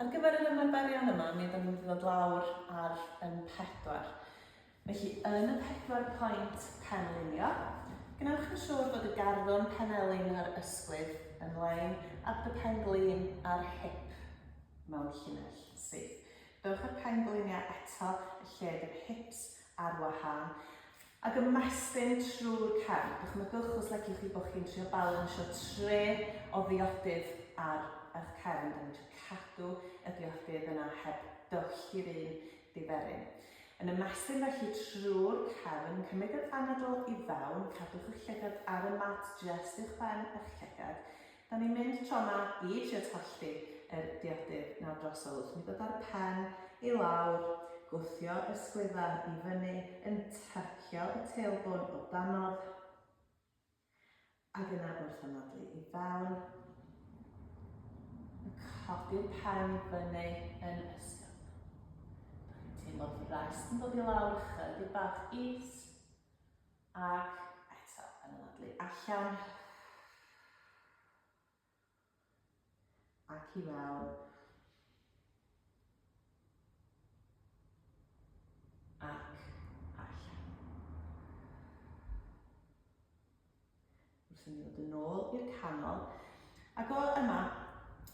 Ar gyfer yr ymarferion yma, mi ydym yn mynd i ddod lawr ar yn pedwar. Felly, yn y pedwar pwynt penlinio, gwnewch yn siŵr bod y garddwrn penelin a'r ysgwydd yn lein ar dy pen-glin a'r hip mewn llinell syth. Dewch â'r pen-gliniau eto yn lle bydd hips ar wahân. Ac ymestyn trwy'r cefn. Dychmygwch os leciwch chi bod chi'n trio balansio tre o ddiodydd ar eich cefn. Dan ni'n trio cadw y diodydd yna heb dywyllt i'r un diferyn. Yn ymestyn felly trwy'r cefn, cymryd yr anadl i fewn, cadwch eich llygad ar y mat, jest uwchben eich llygad, Da ni'n mynd tro yma i trio talltu yr diodydd nawr drosodd wrth mi ddod â'r pen i lawr, gwthio y sgliffa i fyny yn tracio y tailbone o danodd, ac yna wrth anadlu i fewn, yn codi'r pen i fyny yn ysgafn. Da ni'n teimlo frest yn dod i lawr, chydig bach is, Ac eto, yn anadlu allan. Ac i mewn. Ac allan. Wrth i ni ddod yn ôl i'r canol, ac o yma,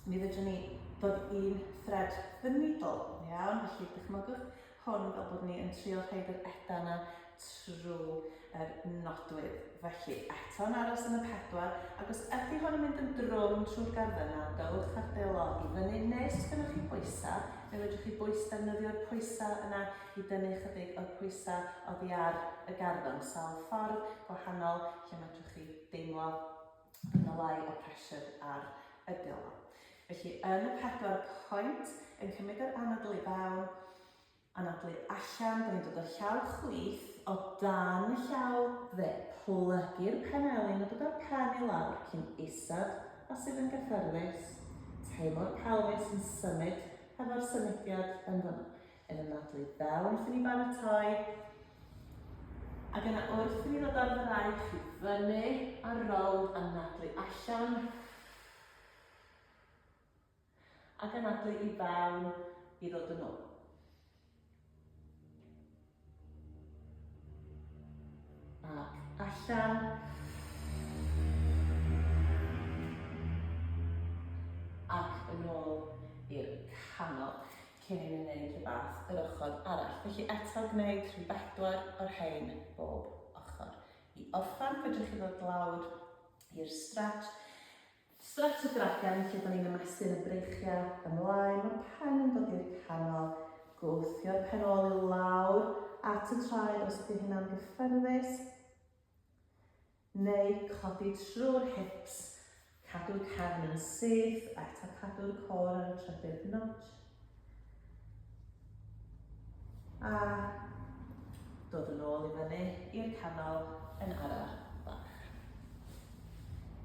mi fedrwn ni ddod i'n thread yn middle, iawn? Felly, dychmygwch hwn fel bod ni yn trio rhaid yr eda yna trwy yr nodwydd. Felly, eto'n aros yn y pedwar, ac os ydy hwn yn mynd yn drwm trwy'r garddau yna, dowch ar dy log i fyny, neu os gennych chi bwysau, fe fedrwch chi bwys defnyddio'r pwysau yna chi dynnu ychydig o'r pwysa' oddi ar y garddon, sawl ffordd gwahanol lle medrwch chi deimlo bod yna lai o pressure ar y dwylo. Felly yn y pedwar pwynt, yn cymryd yr anadl i fewn, anadlu allan, da ni'n dod o llaw chwith, o dan y llaw dde, plygu'r penelin a dod â'r pen i lawr cyn isod os sydd yn gyffyrddus, teimlo'r pelfis yn symud hefo'r symudiad yn fanno. Yn ymladwy bel wrth i ni baratoi. Ac yna wrth i ni ddod ar fraich i fyny ar rownd a nadlu allan. Ac yn nadlu i fewn i ddod yn ôl. Ac allan. Ac yn ôl i'r canol. cyn i mi wneud rhywbeth yr ochr arall. Felly eto gwneud rhyw bedwar o'r rhain bob ochr. I orffen, fedrwch chi ddod lawr i'r stretch. Stretch y dragan, lle da ni'n ymestyn y breichiau ymlaen, mae pen yn dod i'r canol, gwthio'r pen ôl i lawr at y traed os ydy hynna'n gyffyrddus. neu codi trwy'r hips, cadw cefn yn syth a eto cadw'r cor ar y trydydd notch. A dod yn ôl i fyny i'r canol yn araf bach.